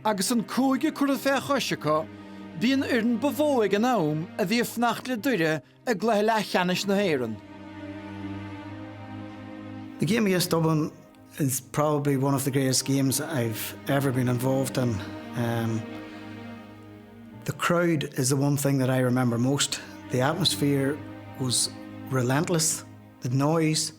Agus an cúige curtha fé chois acu, bhí an fhoireann ab fhearr ag an am a bhí ag fanacht le Doire i gcluiche leathcheannais na hÉireann. The game against Dublin is probably one of the greatest games I've ever been involved in. Um, the crowd is the one thing that I remember most. The atmosphere was relentless, the noise,